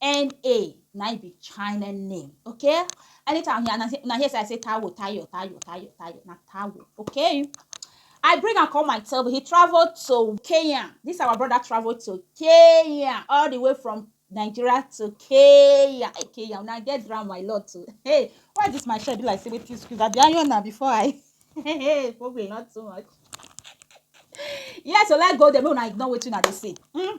NA na im be China name, okay? Anytime una hear, una hear say I say Taiwo, Tayo, Tayo, Tayo, Tayo, na Taiwo, okay? I bring am come my table. He travel to Kenya. This our brother travel to Kenya, all the way from Nigeria to Kenya. Hey, Kenya, una get drown my lord too. Hey, why this my shirt be like say wetin squeeze? I be iron na before I. Hey, hey, probably not too much. Yes, so let's go there. Make una ignore wetin una dey say. Mm.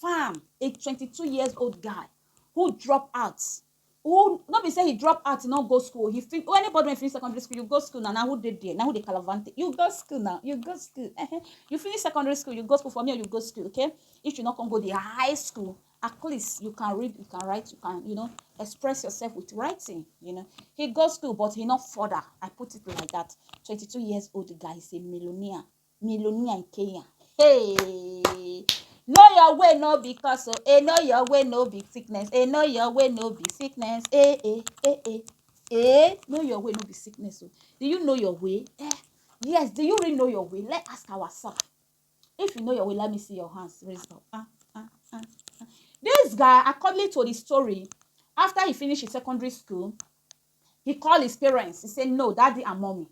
farm a 22 years old guy who drop out who no be say he drop out he no go school he fit oh, anybody wey finish secondary school you go school na na who dey there na who dey calavante you go school na you go school uh-huh. you finish secondary school you go school for me you go school okay if you no come go the high school at least you can read you can write you can you know express yourself with writing you know he go school but he no further i put it like that 22 years old guy is a millionaire millionaire in Kenya. Hey! Know your way, no be cause, oh. Hey, know your way, no be sickness. Hey, know your way, no be sickness. Hey, hey, hey, hey. Hey, know your way, no be sickness, oh. Do you know your way? Eh? Yes, do you really know your way? Let's ask ourselves. If you know your way, let me see your hands raised up. Ah, ah, ah, ah. This guy, according to the story, after he finished his secondary school, He call his parents, he say no daddy and mummy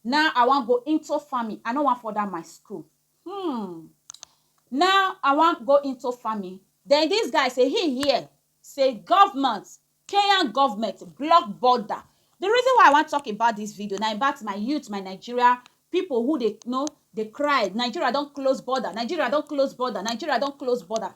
now I wan go into farming, I no wan further my school. Hmm. Now I wan go into farming. Then this guy say he hear say government, Kenyan government block border. The reason why I wan talk about this video na about my youth, my Nigeria people who dey you know dey cry Nigeria don close border, Nigeria don close border, Nigeria don close border.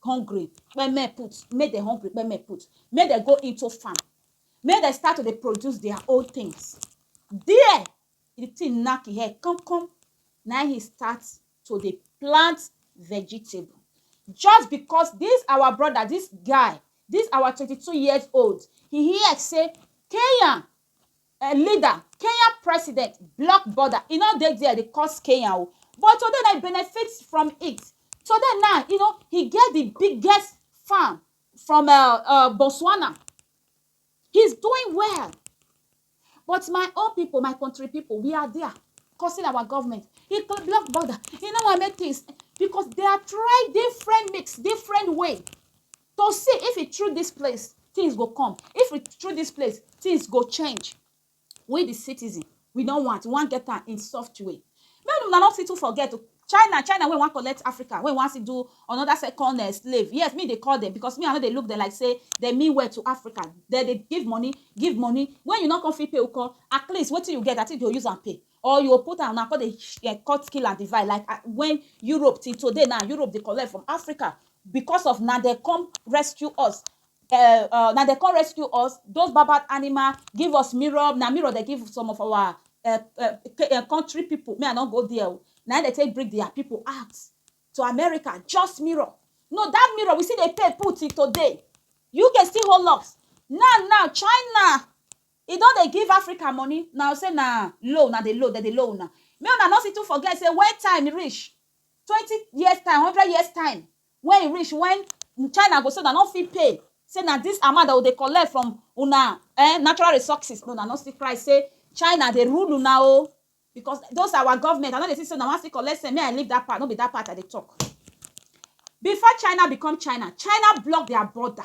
hungry kpeme put make dem hungry kpeme put make dem go into farm make dem start to dey produce their own things there the thing knack him head come come na him start to dey plant vegetable just because this our brother this guy this our twenty two years old he hear say Kenya a leader kenya president block border e no dey there dey cause kenya o but today na e benefit from it today now you know he get the biggest farm from uh, uh, botswana he's doing well but my own people my country people we are there causing our government he block border he no wan make things because they are trying different mix different way to see if e through this place things go come if e through this place things go change we the citizen we no want we wan get am in soft way make una no fit too forget o china china wey wan collect africa wey wan still do another second uh, slave yes me dey call them because me i no dey look them like say they mean well to africa they dey give money give money when you no come fit pay uko at least wetin you get i think you go use am pay Or you go put am una come dey um cut kill and divide like ah when Europe till today now Europe dey collect from Africa because of na dem come rescue us um na dem come rescue us those bad bad animal give us mirror na mirror dem give some of our um country people make I no go there oo na im dem take bring their people out to America just mirror no that mirror we still dey pay put till today UK still hold us now now China I don dey give Africa money na u say na low una dey low dem dey low una make una no situ forget say when time reach twenty years time hundred years time when e reach when China go say una no fit pay say na this amount dem go dey collect from una eh natural resources make una no still cry say China dey rule una o because those our government I no dey see say una wan still collect cent make I leave that part no be that part I dey talk before China become China China block their border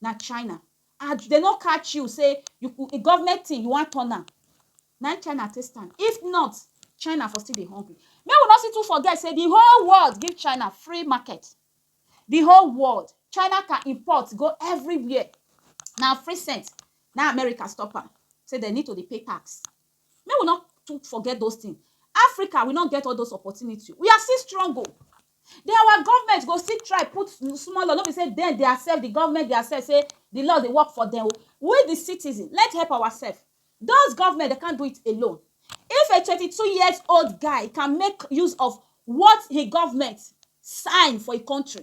na China and dem no catch you say you could government thing you wan turn am na im China take stand if not China for still dey hungry make we no still too forget say the whole world give China free market the whole world China can import go everywhere na free cent na America stop am say dem need to dey pay tax Make we no too forget those things. Africa, we no get all those opportunity. We are still strong o. Then our government go still try put small law. No be say then they accept the government, they accept say the law dey work for them. We the citizen, let's help ourselves. Those government, they can't do it alone. If a 22 years old guy can make use of what his government sign for a country,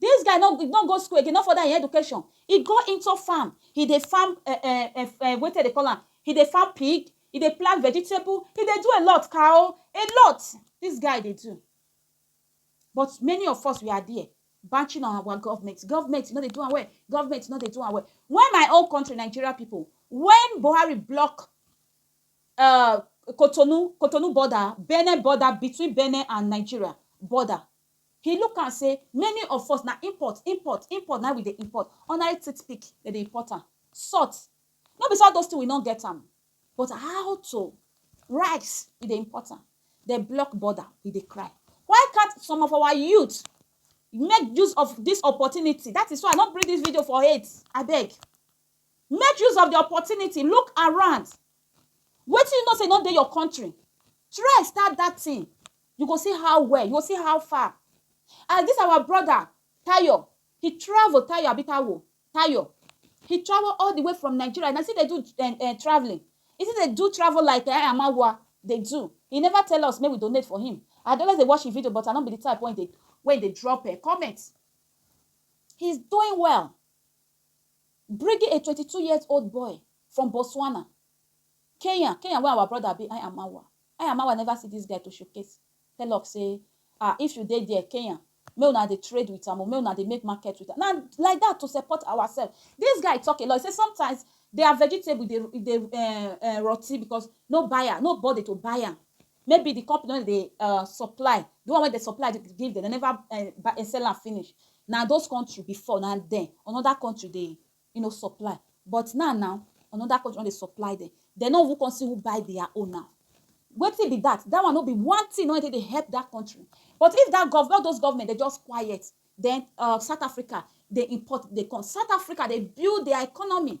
Dis guy no no go school again, no further im education, e go into farm, e dey farm um um um um wetin dem dey call am, e dey farm pig, e dey plant vegetable, e dey do a lot, cow, a lot dis guy dey do. But many of us we are there banching on our government, government no dey do am well, government no dey do am well. When my own country Nigeria pipu, when Buhari block um Cotonou, Cotonou border, Benin border between Benin and Nigeria border. He look am say many of us na import, import, import na im we dey import. Ordinary toothpick, dem dey import am. Salt, no be say all those things we no get am, but how to? Rice, we dey import am. Dem block border, we dey cry. Why can't some of our youth make use of dis opportunity? Dat is why I no bring dis video for hate, abeg. Make use of di opportunity, look around, wetin you know sey e no dey your country, try start dat tin, you go see how well, you go see how far. As dis our broda Tayo, he travel, Tayo abi Taiwo? Tayo, he travel all di way from Nigeria, na still dey do um um travelling, he still dey do travel like um Amawa dey do, he neva tell us make we donate for him, I dey always dey watch him video but I no be di type wey dey wey dey drop um comment, he's doing well. Bringing a twenty two years old boy from Botswana, Kenya, Kenya where our brother be I Amawa, I Amawa never see this guy to showcase, tell ur say ah if u dey there Kenya make una dey trade with am o, make una dey make market with am, na like that to support ourself, this guy talk a lot, he say sometimes their vegetable dey dey um rotti because no buyer, no body to buy am. Maybe the company wey dey um supply, the one wey dey supply give dem, dem never um sell am finish. Na those country before, na dem another country dey you know supply. But now now, another country con dey supply dem. Dem no even con see who buy their own now. Wetin be dat? Dat one no be one thing wey dey take help dat country. But if dat government, all dos government dem just quiet, den um South Africa dey import dey come. South Africa dey build their economy.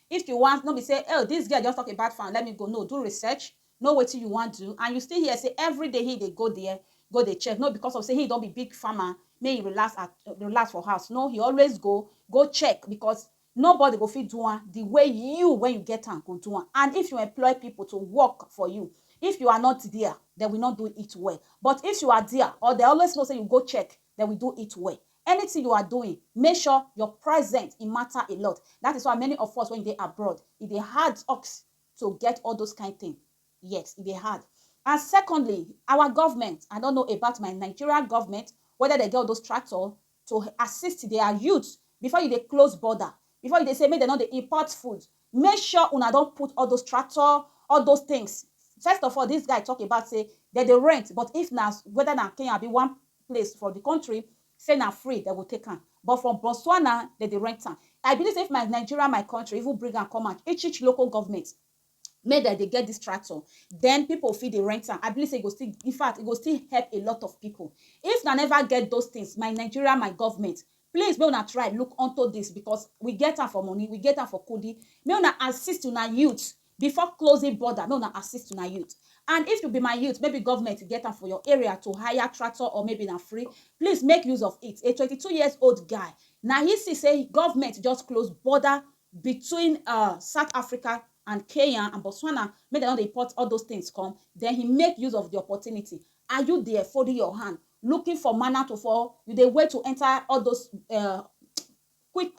If you wan no be say oh this girl just talk about fan let me go no do research know wetin you wan do and you still hear say everyday he dey go there go dey check no because of say he don be big farmer make he relax at relax for house no he always go go check because nobody go fit do am the way you when you get am go do am and if you employ people to work for you if you are not there they will not do it well but if you are there or they always know say you go check they will do it well Anything you are doing make sure your present e matter a lot that is why many of us when dey abroad e dey hard ux to get all those kind thing yes e dey hard and secondly our government I don't know about my Nigeria government whether dem get all those tractor to assist their youth before you dey close border before you dey say make dem no dey import food make sure una don put all those tractor, all those things. First of all, this guy talk about say dem dey rent, but if na whether na Kenya abi one place for the country, say na free dem go take am. But for Botswana, dem dey rent am. I believe say if my Nigeria, my country, even bring am come out, each each local government, make dem dey get this tractor, then people fit dey rent am. I believe say e go still, infact, e go still help a lot of people. If una never get those things, my Nigeria, my government, Please make una try look unto this because we get am for money, we get am for kudi, make una assist una youth before closing border, make una assist una youth and if you be my youth maybe government get am for your area to hire tractor or maybe na free, please make use of it, a twenty two years old guy na he see say government just close border between um South Africa and Kenya and Botswana make dem no dey import all those things come then he make use of the opportunity, are you there folding your hand looking for manner to for you dey wait to enter all those uh, quick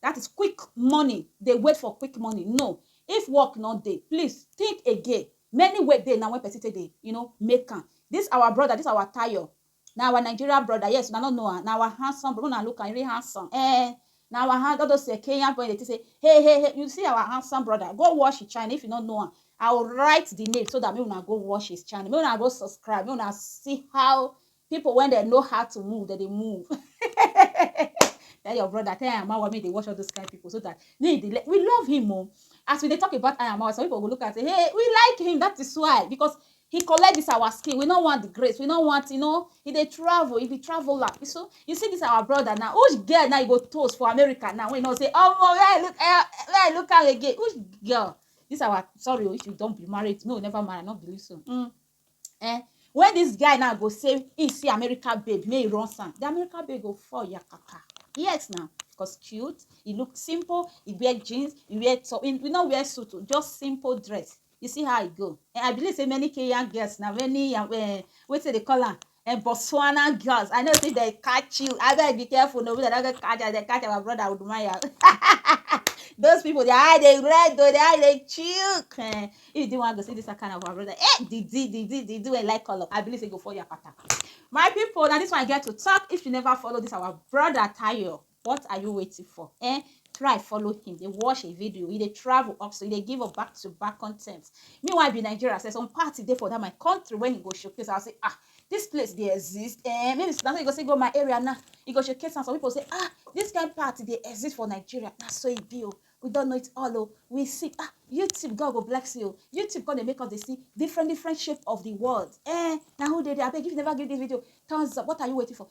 that is quick money dey wait for quick money no if work no dey please think again many way dey na when person take dey you know make am this our brother this our tayo na our nigeria brother yes una no know am na our handsome brother una look am really handsome eh Na our hand all those eh, Kenyan boy dey think say hey hey hey you see our handsome brother go watch his channel if you no know am I will write the name so that make una go watch his channel make una go subscribe make una see how people when they know how to move they dey move tell your brother tell your mama make they watch all those kind of people so that they, they we love him oh as we dey talk about Ayamawa some people go look and say hey we like him that is why because He collect this our skin, we no want the grace, we no want, you know, he dey travel, he be traveler. You so, you see this our brother now, which girl now you go toast for America now, when you know say, oh, well, where I look, eh, where I look am again, which girl? This our, sorry, oh, if you don't be married, no, never mind, I not believe so. Mm. Eh, when this guy now go say, he see America babe, may he run some, the America babe go fall yakaka. Yes now, because cute, he look simple, he wear jeans, he wear, so he, we not wear suit, oh, just simple dress. You see how e go. And I believe say many Kenyan girls na many uh, eh, wetin dey call am and eh, Botswana girls. I know say they catch you. I better be careful. No, they don't catch you. They catch our brother Udumaya. Those people, they are they red though, they are they chook. Eh, if you didn't want to see this kind of our brother, eh, did did did did did do a like color. I believe they go for your pattern. My people, now this one I get to talk. If you never follow this, our brother Tayo, what are you waiting for eh try follow him dey watch a video e dey travel up so e dey give up back to back content meanwhile be nigeria say some party dey for that my country when he go showcase i say ah this place dey exist eh maybe na so you go say go my area now you go showcase am some people say ah this kind party dey exist for nigeria na so e be o we don know it all o we see ah youtube god go bless you o youtube come dey make us dey see different different shape of the world eh na who dey there abeg if you never give this video thumbs up what are you waiting for